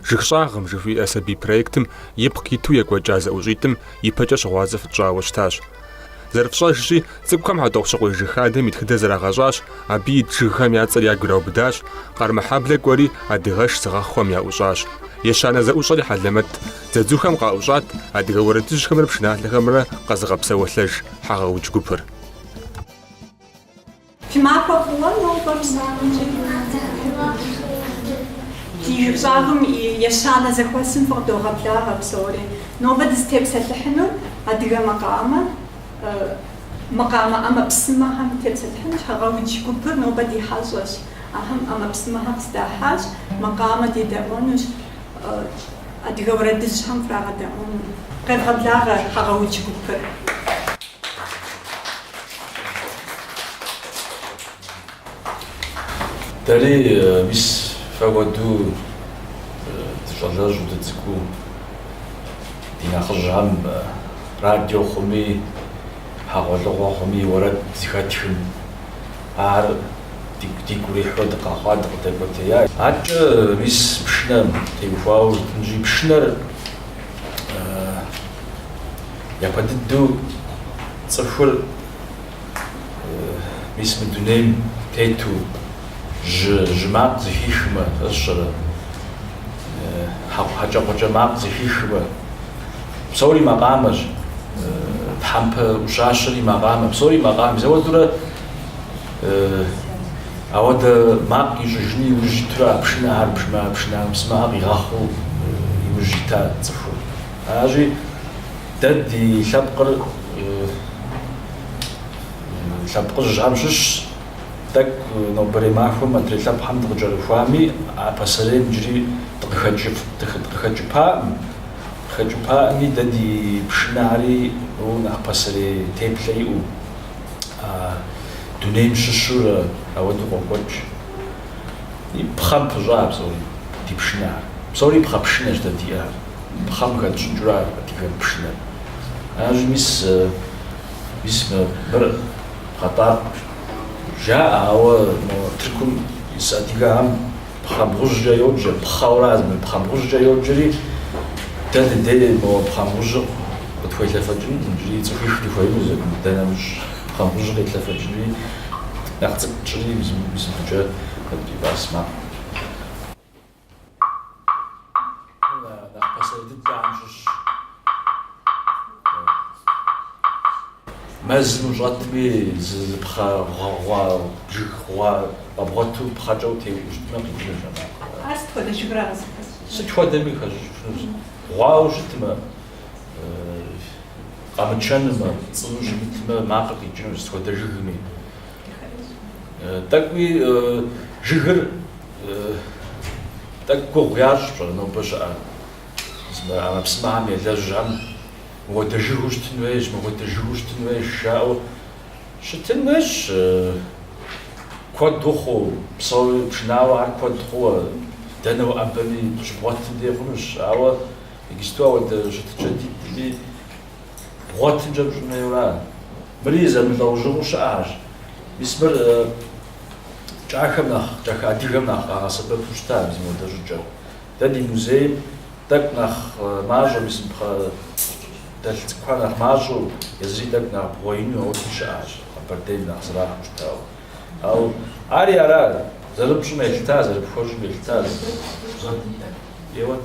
Жыг щӏагъым жыхуиӏэ сабий проектым ипкъ иту екӏуэкӏа зэӏущӏитӏым ипэкӏэ щыгъуазэ фытщӏауэ щытащ. Зэрыфщӏэжщи, цӏыкӏухэм Хьэтӏохъущыкъуей жыг хадэм и тхыдэр зэрагъэщӏащ, абы ит жыгхэм я цӏэр ягу ираубыдащ, Къармэхьэблэ кӏуэри адыгэш зыгъэхъухэм яӏущӏащ. Ещанэ зэӏущӏэри хьэлэмэт дзадзухэм къаӏущӏат, адыгэ уэрэдыжьхэмрэ пшыналъэхэмрэ къэзыгъэпсэуэлъэж. хьэгъэудж гупыр. Фи махуэ фӏыуэ нобэ мы закъуэкӏэ. Ди Жыг щӏагъым и ещанэ зэхуэсым фыкъыдогъэблагъэ псори. Нобэ дызытепсэлъыхьынур адыгэ макъамэ, макъамэ ӏэмэпсымэхэм дытепсэлъыхьынущ, хьэгъэудж гупыр нобэ ди хьэщӏэщ. Ахэм ӏэмэпсымэхэр къыздахьащ, макъамэ дедэӏуэнущ. Адыгэ уэрэдыжьхэм фрагъэдэӏуэну. Къевгъэблагъэ хьэгъэудж гупыр. Дэри мис фэ хуэду дыщӏалэжьу дыцӏыкӏуу ди нэхъыжьхэм радио хъуми, хьэгъуэлӏыгъуэ хъуми уэрэд зыхэтхым, Ар дигу дигу ирихьу дыкъэхъуа, дыкъыдэкӏуэтея. Аркӏэ мис пшынэм теухуауэ жытӏэнщи, пшынэр япэ дыдэу цӏыхур мис мы дунейм тету жьы жьы макъ зыхихмэ, сщӏэрэ, хьэ хьэкӏэкхъуэкӏэ макъ зыхихмэ, Псори макъамэщ, тхьэмпэ ӏущащэри макъамэ, псори макъамэщ. Ауэдурэ ауэдэ макъ ищӏыжыну иужь итурэ а пшынэ, ар бжмэ, а пшынэ ӏэмэпсымэхэр къигъэхъуу иужь ита цӏыхур. Аращи, дэ ди лъэпкъыр лъэпкъыжьхэм щыщщ, тӏэкӏу нобэрей махуэм адрей лъэпкъхэм дыкъыкӏэрыхуами, а пасэрейм иджыри дыкъыхэкӏыпакъым. Хэкӏыпаӏыми дэ ди пшынэхэри нэхъ пасэрей теплъэ иӏэу, дунейм щыщу ауэдэу къокӏуэкӏ. И пхъэм пыщӏа ар псори, ди пшынэхэр. Псори пхъэ пшынэщ дэ диӏэхэр. Пхъэм хэтщӏыкӏыурэ ар адыгэм пшынэр. Аращи, мис, мис мыр пхъэтӏакъу жаӏэ, ауэ мо Тыркум ис адыгэхэм. Пхъэбгъужькӏэ йоджэ, пхъэурэ а зэман пхъэбгъужькӏэ йоджэри, дэ дыдей мо пхъэбгъужьыр къытхуелъэфэкӏынут иджыри, цӏыхуих дыхуеину зэкӏуну, дэ нэмыщӏ пхъэбгъужьыр къетлъэфэкӏыну, нэхъ цӏыкӏу тщӏыри, мис мыбыкӏэ, а ди бас макъ. нэхъ пасэрей дыдэхэм щыщщ. Мэзым ущӏэтми, зы зы пхъэ гъэгъуа, жыг гъуа къэбгъуэту пхъэкӏэ утеуӏуу щытмэ, къикӏынущ а макъыр. Ар сыт хуэдэ жыгра къызыхэсщӏыр? Сыт хуэдэми хэщӏыкӏынущ. Гъуауэ щытмэ, къэмычэнумэ, цӏынэу щымытмэ, макъыр къикӏынущ сыт хуэдэ жыгми. Тӏэкӏуи жыгыр тӏэкӏу гугъу ящӏ пщӏэрэ нобэ щыӏэ ӏэмэпсымэхэм елэжьхэм мыуэдэ жыгыу щытын хуейщ, мыуэдэ жыгыу щытын хуейщ жаӏэу щытын хуейщ куэду хъуу, псори пшынауэхэр куэд хъууэ, дэнэ уӏэбэми щыбгъуэтым дей хъунущ, ауэ иджыпсту ауэдэ щытыкӏэ дитӏми, бгъуэтымкӏэ пщӏын хуейуэ ара? Мыри зэмылӏэужьыгъуэу щыӏэхьэщ. Мис мыр кӏахэм нэхъ, кӏахэ адыгэм нэхъ къагъэсэбэпу щыта мис мыуэдэ щӏыкӏэр. Дэ ди музейм тӏэкӏу нэхъ мащӏэу, мис мы пхъэ дэлъ цӏыкӏухэр нэхъ мащӏэу, езыри тӏэкӏу нэхъ бгъуэ ину ауэдэу щыӏэхьэщ, Къэбэрдейм нэхъ зэрахьэу щытауэ. Ауэ ари ара зэрыпщӏым елъытар, зэрыпхуэщӏым елъытар? Жьгъэдийхэр. Еуэт.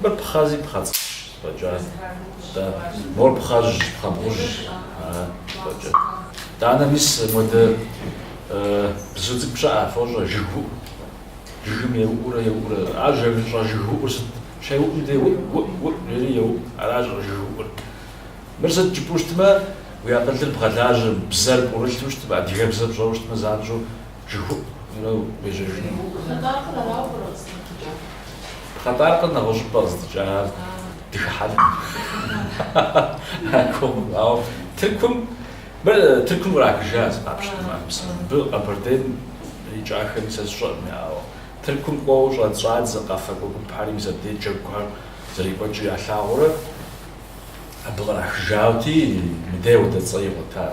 Мыр пхъэ, зы пхъэ цӏыкӏущ, фӏэкӏа? Дэ, мор пхъэжьщ, пхъэбгъужьщ, ара, фӏэкӏа? Данэ, мис, модэ бзу цӏыкӏу щыӏэ, фощӏэ, жыгыуӏу. Жыгым еуӏуурэ еуӏуурэ. Ар жэ-жы- щӏэжыгыуӏур сыт? Щеуӏум дей уӏ-уӏ-уӏ жери еуӏу. Ара щӏэжыгыуӏур? Мыр сыт жыпӏэу щытмэ, уи акъылыр бгъэлажьэм, бзэр пӏурылъу щытмэ, адыгэбзэ пщӏэу щытмэ, занщӏэу Жыпӏэу уежьэжыну. Пхъэтӏаркъыр арауэ пӏэрэ къызыхэплъыкӏар? Пхъэтӏаркъыр нэгъуэщӏыпӏэ къыздыкӏа, ар дыхыхьэнӏым. Арком, ауэ Тыркум, мыр Тыркум кърахыжа зы къапщтэмэ, ар псым. Мыбы Къэбэрдейм икӏахэми сэ сщӏэркъым яӏауэ. Тыркум кӏуэуэ щӏэ- щӏадза къэфакӏуэ гупхьэри мис абдей джэгухэр зэрекӏуэкӏыр ялъагъурэ абы кърахыжаути, мыде ауэдэ цӏэ игъуэтар.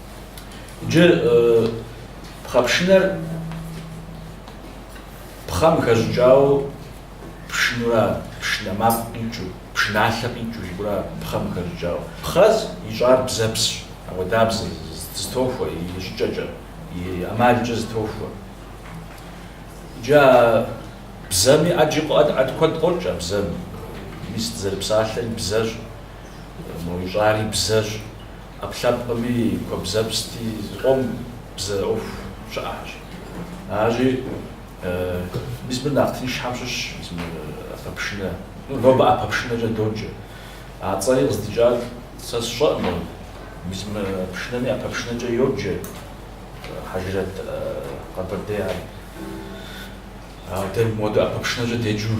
Иджы пхъэпшынэр пхъэм хэщӏыкӏауэ пшынура, пшынэ макъ къикӏыу, пшыналъэ къикӏыу жиӏэура пхъэм хэщӏыкӏауэ. Пхъэ ищӏар бзэпсщ, ауэдабзэ зытохуэ и щӏыкӏэкӏэ, и ӏэмалкӏэ зытохуэ. Иджы а бзэми ӏэджи ӏэд куэд къокӏ а бзэми. Мис дызэрыпсалъэри бзэщ, мо ищӏари бзэщ. ӏэпкълъэпкъми куэбзэпсти зыкъом бзэ ӏуэху щыӏэхьэщ. Аращи, мис мыр нэхъ тыншхьэм щыщщ, мис мыр ӏэпэпшынэ, ну, нобэ ӏэпэпшынэкӏэ доджэ. А цӏэри къыздикӏар сэ сщӏэӏым абы. Мис мы пшынэми ӏэпэпшынэкӏэ йоджэ Хьэжрэт Къэбэрдейхьэр. Ауэ дэ мыпхуэдэу ӏэпэпшынэкӏэ деджу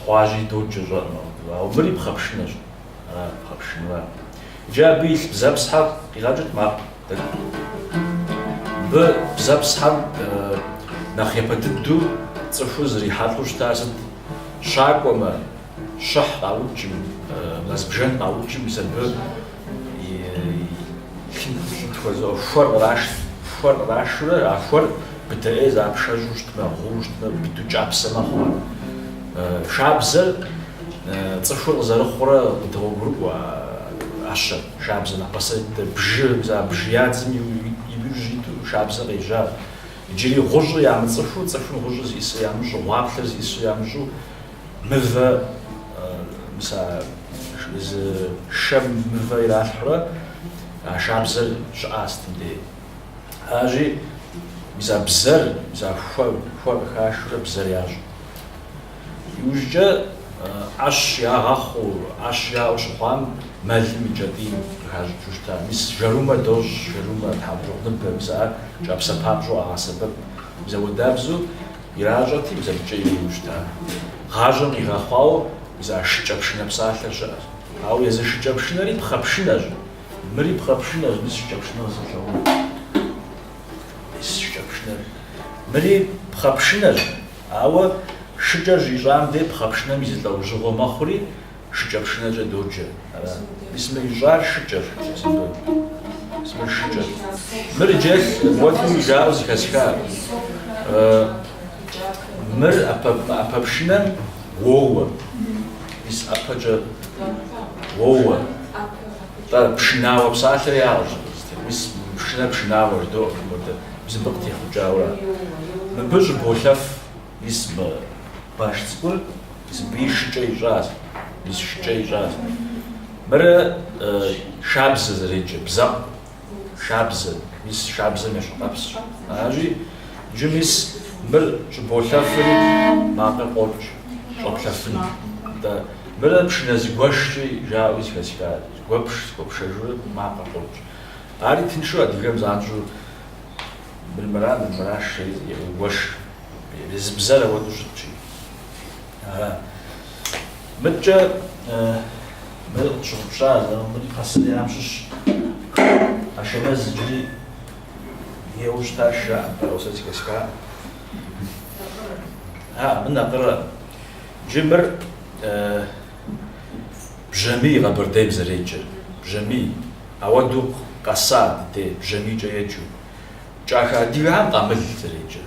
хъуащи доджэ, сщӏэӏым абы. Ауэ мыри пхъэпшынэщ. Ара пхъэпшынэр? Иджы абы илъ бзэпсхьэм къигъэкӏыт макъ. Мыбы бзэпсхьэм нэхъ япэ дыдэу цӏыхур зрихьэлӏэу щытар сыт? Щакӏуэмэ, щыхь къаукӏым, мэзбжэн къаукӏым мис абы хуэр кърашт. Хуэр кърашурэ а хуэр быдэӏей запшэжьу щытмэ, гъуу щытмэ, быдэу кӏапсэ мэхъу ар. Шабзэр цӏыхур къызэрыхъурэ къыдогъуэгурыкӏуэ а ӏэщэр. Шабзэ нэхъ пасэ дыдэр бжы, мис а бжы ядзым иужь иту шабзэ къежьащ. Иджыри гъущӏыр ямыцӏыхуу, цӏыхум гъущӏыр зиӏысыр ямыщӏу, гъуаплъэр зиӏысыр ямыщӏу, мывэ, мис а зы шэм мывэ иралъхьурэ а шабзэр щыӏа сытым дей. Аращи, мис а бзэр, мис а хуэр къыхашурэ бзэр ящӏ. Иужькӏэ ӏэщ ягъэхъуу, ӏэщ яӏэу щыхъуам мэлым и кӏэтӏийм къыхащӏыкӏыу щыта. Мис жэрумэ дощӏ, жэрумэ, тхьэмщӏыгъуныбэ, мис ар кӏапсэ папщӏэу къагъэсэбэп. Мис ауэдабзэу иращӏэрти, мис абыкӏэ ириу щыта. Гъащӏэм къигъэхъуауэ, мис а шыкӏэ пшынэ псалъэр щыӏэщ. Ауэ езы шыкӏэ пшынэри пхъэ пшынэщ. Мыри пхъэ пшынэщ, мис шыкӏэ пшынэ къызэплъагъуу. Мис шыкӏэ пшынэр. Мыри пхъэ пшынэщ, ауэ шыкӏэр щищӏам дей пхъэ пшынэм и зы лӏэужьыгъуэ мэхъури шыкӏэ пшынэкӏэ доджэ. Ара? Мис мы ищӏар шыкӏэщ. Мис мыр шыкӏэщ. Мыр иджы уэным жаӏэу зыхэсхар. Мыр ӏэпэ пшынэм уоуэ. Мис ӏэпэкӏэ уоуэ. Тӏэ, пшынауэ псалъэри аращ абы. Мис мы пшынэр пшынауэ жыдоӏэ абы мурдэ, мис мыбы къытехъукӏауэ. Мыбы щӏыболъэф, мис мы баш цӏыкӏур мис абыи шыкӏэ ищӏащ, мис шыкӏэ ищӏащ. Мыр шабзэ зэреджэ, бзэкъу, шабзэ, мис шабзэм ещхьыркъэпсщ. Аращи, иджы мис мыр щӏыболъэфри макъыр къокӏ щӏэплъэфын. Атӏэ, мырэ пшынэ зыгуэшкӏи жаӏэуи зыхэсхат, зыгуэпш, зыгуэпшэжурэ макъыр къокӏ. Ари тыншу адыгэм занщӏэу мыр мыра, мыр мыращ жери зэгуэш, езы бзэр ауэдэу щыткӏи. Ага. Мыдкӏэ мыр къытщыгъупща зэрымбын пасэрейхэм щыщ Ашэмэз иджыри еуэу щытар жаӏэм сэ зэхэсха. А, мыр накъырэ. Джы мыр бжьамий къэбэрдейм зэреджэр. Бжьамий. Ауэдэу къэса дыдей бжьамийкӏэ еджэу. Кӏахэ адыгэхэм къамыл зэреджэр.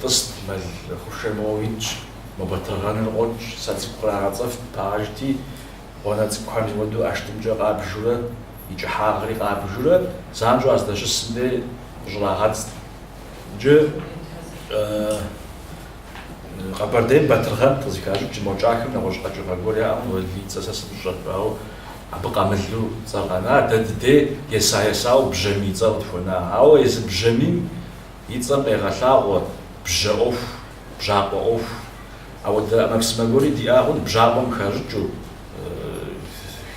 Тӏыст мэл хъушэ моуэ итщ, мо батыргъэныр къокӏ, сэ цӏыкӏу кърагъэцӏэфт, пагъэжти, гъуанэ цӏыкӏухэм хуэду ӏэштӏымкӏэ къабжурэ, и кӏыхьагъри къабжурэ, занщӏэу а здэщысым дей къыщӏрагъэдзт. Иджы Къэбэрдейм батыргъэн къызыхащӏыкӏ мо кӏахэм нэгъуэщӏ къэкӏыгъэ гуэр яӏэ, мо, уэлий, и цӏэ сэ сымыщӏэрт, ауэ абы къамылу цӏэр къэна, дэ дыдей еса-есауэ Бжьамий цӏэр къытхуэна. Ауэ езы Бжьамийм И цӏэм къегъэлъагъуэ бжьэ ӏуэху, бжьакъуэ ӏуэху. Ауэдэ ӏэмэпсымэ гуэри диӏагъэн бжьакъуэм хащӏыкӏыу,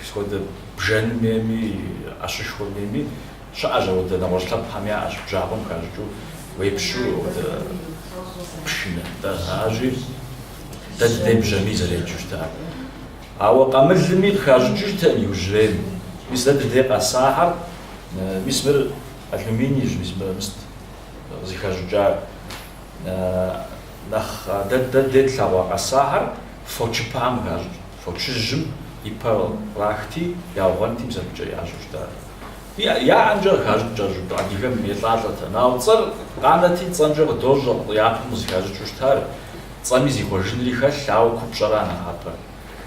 сыт хуэдэ бжэнмейми, ӏэщышхуэмейми. Щыӏэщ ауэдэ нэгъуэщӏ лъэпкъхэм яӏэщ бжьакъуэм хащӏыкӏыу уепщу ауэдэ пшынэ. Да, аращи, дэ дыдей бжьамий зэреджэу щытар. Ауэ къамылми къыхащӏыкӏыу щыта иужьрейм. Мис дэ дыдей къэсахэр, мис мыр. Алюминийщ мис мыр мис къызыхэщӏыкӏа нэхъ дэ дыдей тлъэгъуа къэсахэр фочыпэм хащӏыкӏт, фочыжьым и пэ кърахти, яугъуэнти бзэгукӏэ ящӏу щыта. Яӏэмкӏэ къыхащӏыкӏ кӏэщӏу адыгэм елӏалӏэт. Ауэ цӏэр къанэти, цӏэмкӏэ къыдощӏэ, япэм къызыхащӏыкӏыу щытар. Цӏэми зихъуэжынри хэлъ, ауэ купщӏэра нэхъапэр.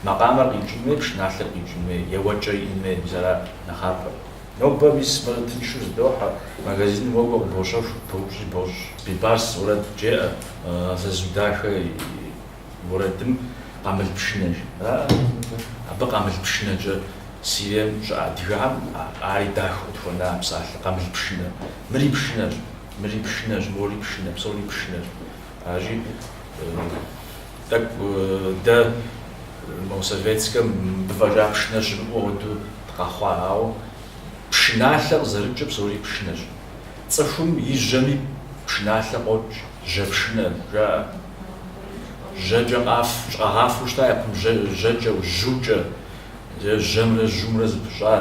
Макъамэр къикӏын хуей, пшыналъэр къикӏын хуей, еуэкӏэ иӏэн хуей, мис ара нэхъапэр. Нобэ мис мыр тыншу зыдохьэ, магазиным уокӏуэ къыбощэху, пыбоупщӏи бощӏ. Бибарс уэрэд жеӏэ, зэзу дахэ и уэрэдым къамыл пшынэ жеӏэ. Абы къамыл пшынэкӏэ Сирием щыӏэ адыгэхэм ари дахэу тхуэна псалъэ, къамыл пшынэ. Мыри пшынэщ, мыри пшынэщ, мори пшынэ, псори пшынэщ. Аращи. Тӏэкӏу дэ мо советскэм мыбы фӏэкӏа пшынэ щымыӏэу хуэдэу дыкъэхъуа, ауэ пшыналъэ къызэрыкӏыр псори пшынэщ. Цӏыхум и жьэми пшыналъэ къокӏ, жьэпшынэ жаӏэ. Жьэкӏэ къаф, къагъафэу щыта япэм жьэкӏэу, жьукӏэ, е жьэмрэ жьумрэ зэпыщӏа,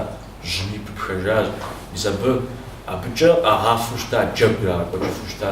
жьыми пыпхэжащ. Мис абы, абыкӏэ къагъафэу щыта, джэгу ирагъэкӏуэкӏыфу щыта.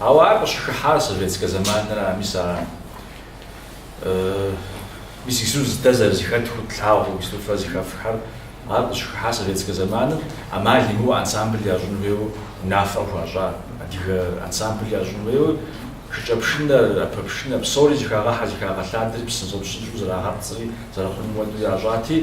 Ауэ ар къыщыхыхьар советскэ зэманра, мис арам. Мис ису дэ зэрызыхэтхыу тлъагъуу, ису фэ зыхэфхэр, ар къыщыхыхьар советскэ зэманым, амал имыӏэу ансамбль ящӏын хуейуэ унафэ хуащӏа, адыгэ ансамбль ящӏын хуейуэ шыкӏэпшынэр, ӏэпэпшынэр, псори зыхагъэхьэ-зыхагъэлъадэри псынщӏэ-псынщӏэу зэрагъэпцӏри зэрыхъуным хуэдэу ящӏати,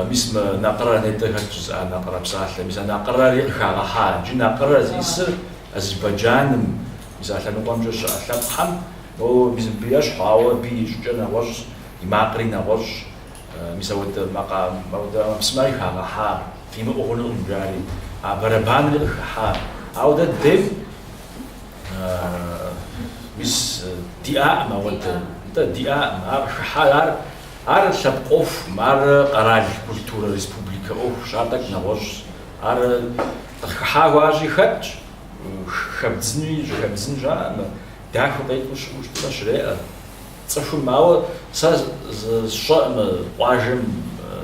мис мы накъырэ нетӏэ хэт жызыӏа накъырэ псалъэ, мис а накъырэри къыхагъэхьа, иджы накъырэ зиӏысыр, Азербайджаным мис а лъэныкъуэмкӏэ щыӏэ лъэпкъхэм моуэ мис мыбы ещхьу, ауэ абы и щӏыкӏэр нэгъуэщӏщ, и макъри нэгъуэщӏщ. Мис ауэдэ макъа, ауэдэ ӏэмэпсымэри хагъэхьа, фимыӏэу хъунукъым жари, а бэрэбанри къыхыхьа. Ауэ дэ дейм мис диӏаӏым ауэдэ, нтӏэ, диӏаӏым. Ар къыхыхьар, ар, ар лъэпкъ ӏуэхукъым, ар къэрал, культурэ, республикэ ӏуэхущ, ар тӏэкӏу нэгъуэщӏщ, Ар къыхыхьа хъуащи хэтщ, хэбдзынуи щӏыхэбдзын щыӏэм, дахэу къекӏуу щыӏэу щытмэ щреӏэ цӏыхум. Ауэ сэ сщӏэӏымэ къуажэм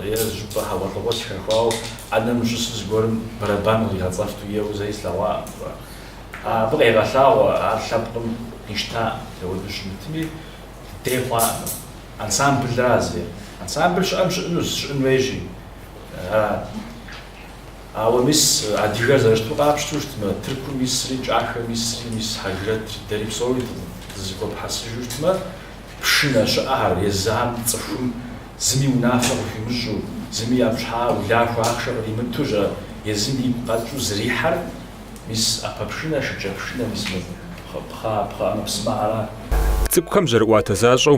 е зыщӏыпӏэ хьэгъуэлӏыгъуэ сыхэхуауэ ӏэнэм щысу зыгуэрым бэрэбан къигъэцӏэфту еуэу зэи слъэгъуаӏым. Абы къегъэлъагъуэ ар лъэпкъым къищтаӏым, дауэду щымытми дей хъуаӏым. Ансамбл раз е ансамбл щыӏэм щыӏэнущ, щыӏэн хуейщи, Ауэ мис адыгэр зэрыщыту къапщту щытмэ, Тыркум исри, Кӏахэм исри, мис Хьэжрэт, дэри псори дызыхуэпхьэсыжу щытмэ, пшынэ щыӏэхэр, езам, цӏыхум зыми унафэ къыхуимыщӏу, зыми япщхьа улахуэ ахъшэ къримыту щӏэ, езым игу къэкӏыу зрихьэр, мис ӏэпэпшынэ, шыкӏэпшынэ, мис мы пхъэ ӏэмэпсымэ ара. Цӏыкӏухэм жьэрыӏуатэ защӏэу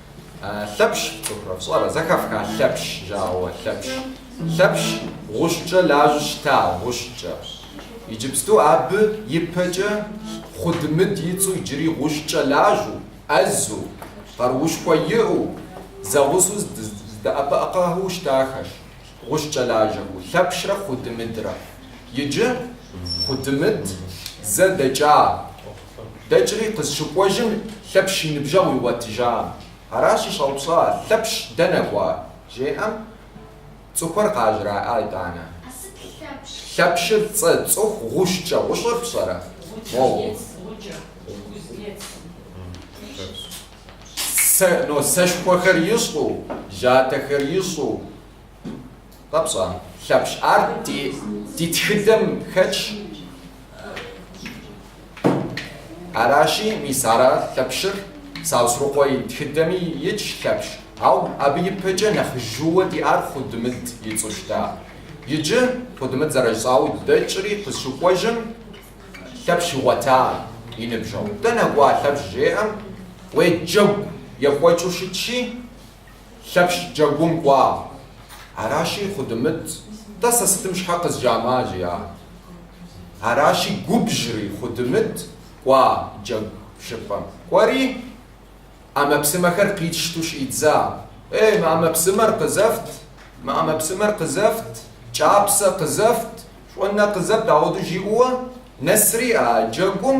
Лъэпщ фцӏыхурэ, фщӏэрэ, зэхэфха Лъэпщ жаӏэу, Лъэпщ. Лъэпщ, гъущӏкӏэ лажьэу щыта, гъущӏкӏэ. Иджыпсту абы ипэкӏэ Хъудымыд и цӏэу иджыри гъущӏкӏэ лажьэу, ӏэзу, къаруушхуэ иӏэу, зэгъусэу здэӏэпыӏэкъэу щытахэщ гъущӏкӏэ лажьэхэу, Лъэпщрэ Хъудымыдрэ. Иджы Хъудымыд зэ дэкӏа. дэкӏри къызщыкӏуэжым Лъэпщ и ныбжьэгъу игъуэтыжам. Аращи щӏэупщӏа, Лъэпщ дэнэ кӏуа? жеӏэм, цӏыхухэр къажраӏа итӏанэ. А сыт Лъэпщ? Лъэпщыр цӏэ, цӏыху, гъущӏкӏэ. Гъущӏыр пщӏэрэ? Мо сэшхуэхэр ищӏу, жьатэхэр ищӏу, Къэпщӏа, Лъэпщ, ар ди, ди тхыдэм хэтщ. Аращи, мис ара Лъэпщыр, Саусырыкъуэ и тхыдэми итщ Лъэпщ, ау абы ипэкӏэ нэхъ жьыуэ диӏар Хъудымыт и цӏэу щыта. Иджы, Хъудымыт зэрыщӏауэ дэкӏри къызщыкӏуэжым, Лъэпщ игъуэта и ныбжьэгъу. Дэнэ кӏуа Лъэпщ жеӏэм, уей, джэгу екӏуэкӏыу щытщи, Лъэпщ джэгум кӏуа. Аращи, Хъудымыт, тӏэ сэ сытым щхьэ къызжамыӏа? жиӏа. Аращи, губжьри, Хъудымыт кӏуа джэгу щӏыпӏэм. Кӏуэри, ӏэмэпсымэхэр къищту щӏидза. Ей, мы ӏэмэпсымэр къызэфт, мы ӏэмэпсымэр къызэфт, кӏапсэ къызэфт, щӏонэ къызэфт, ауэду жиӏэуэ нэсри а джэгум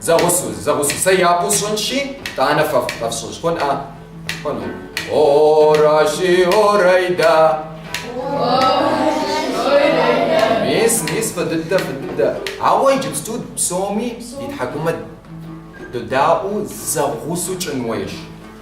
Зэгъусэу, зэгъусэу, сэ япэу сщӏынщи, тӏанэ фэ фщӏыж, хъун, а? Хъуну. Оращи, орайда. Мис, мис, фӏы дыдэ, фӏы дыдэ. Ауэ иджыпсту псоми ди тхьэкӏумэ дыдаӏуэу зэгъусэу тщӏын хуейщ.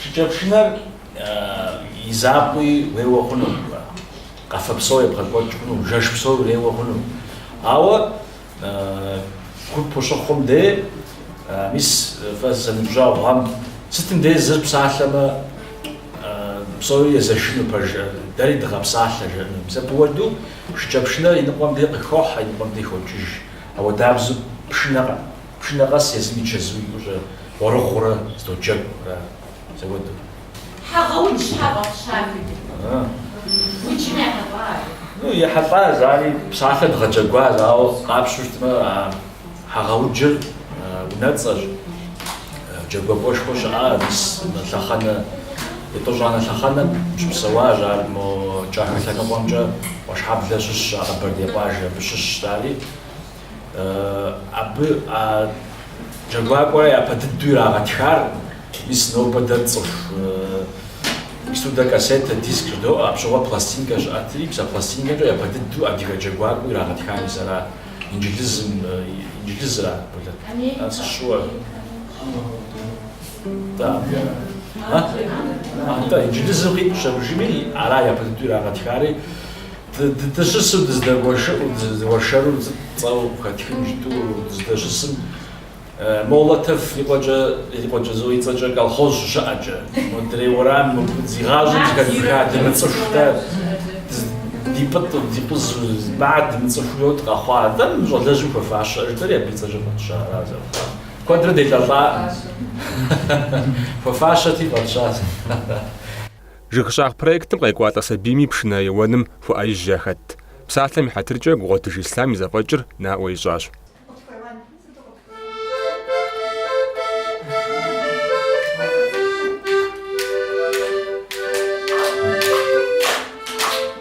Шыкӏэпшынэр и закъуи уеуэ хъуну, къафэ псо ебгъэкӏуэкӏ хъуну, жэш псо уреуэ хъуну, ауэ Гуп ущыхъум дей, мис фэ зэныбжьэгъугъэм, сытым дей зыр псалъэмэ, псори езэшыну пэжу, дэри дыгъэпсалъэ жаӏэну. Мисапыуэду шыкӏэпшынэр и ныкъуэм дей къыхохьэ, и ныкъуэм дей хокӏыж. Ауэдабзу пшынэ, пшынэ къэс езым и чэзу икӏущӏэ гъуэрыгъуэурэ зэдоджэгу ара? Мисапыуэду. Хьэгъэудж щхьэ фӏэфщати, уджым ехьэлӏа ар? Ну, ехьэлӏа, зари псалъэ дгъэджэгуащ, ауэ къапщту щытмэ, а Хьэгъэуджыр унэцӏэщ, джэгуакӏуэшхуэ щыӏа мис мы лъэхъэнэ, етӏощӏанэ лъэхъэнэм щыпсэуащ ар, мо кӏахэ лъэныкъуэмкӏэ Къуэшхьэблэ щыщщ а Къэбэрдей къуажэ, абы щыщщ, зари. Абы а джэгуакӏуэра япэ дыдэу ирагъэтхар, мис нобэ дэ цӏыху сурдокассетэ, диск жыдоӏэ, апщыгъуэ пластинкэ щыӏэтри, псэ пластинкэмкӏэ япэ дыдэу адыгэ джэгуакӏуэу ирагъэтхар езыра, инджылызым, инджылызра, ар сыщыуэ, атӏэ, инджылызым къитӏущ абы жыми, ара япэ дыдэу ирагъэтхари. Дыдыщысу дызэдэуэршэру цӏэу къыхэтхын жытӏу дыздэщысым, Молотов и къуэкӏэ, и къуэкӏэ зо, и цӏэкӏэ колхоз щыщыӏэкӏэ, модрейр уэрам мыбы зи гъащӏэм зыхэдзыха дымыцӏыху-тӏэ, ди пӏытӏ, ди къузу, маа дымыцӏыху йот къэхъуа дэ, мы щӏалэжьым хуэфащэ жытӏэри абы и цӏэкӏэ фӏэтща ара зэрыхъуар. Куэдрэ делӏэлӏакъым. Хуэфащэти фӏэтщащ. Жыг щӏагъ проектым къекӏуалӏэ сабийми пшынэ еуэным хуэӏэижьу яхэтт. Псалъэм и хьэтыркӏэ Гугъуэтыж Ислъам и зэфӏэкӏыр наӏуэ ищӏащ.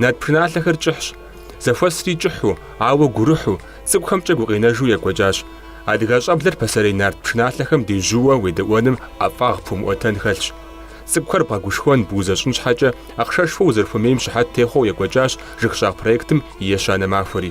Нарт пшыналъэхэр кӏыхьщ. Зэхуэсри кӏыхьу, ауэ гурыхьу, цӏыкӏухэмкӏэ гукъинэжу екӏуэкӏащ. Адыгэ щӏэблэр пасэрей нарт пшыналъэхэм дежьууэ уедэӏуэным ӏэфӏагъ пхуэмыӏуэтэн хэлъщ. Цӏыкӏухэр бгъэгушхуэн, бузэщӏын щхьэкӏэ, ахъшэшхуэ узэрыхуэмейм щыхьэт техъуэу екӏуэкӏащ Жыг щӏагъ проектым и ещанэ махуэри.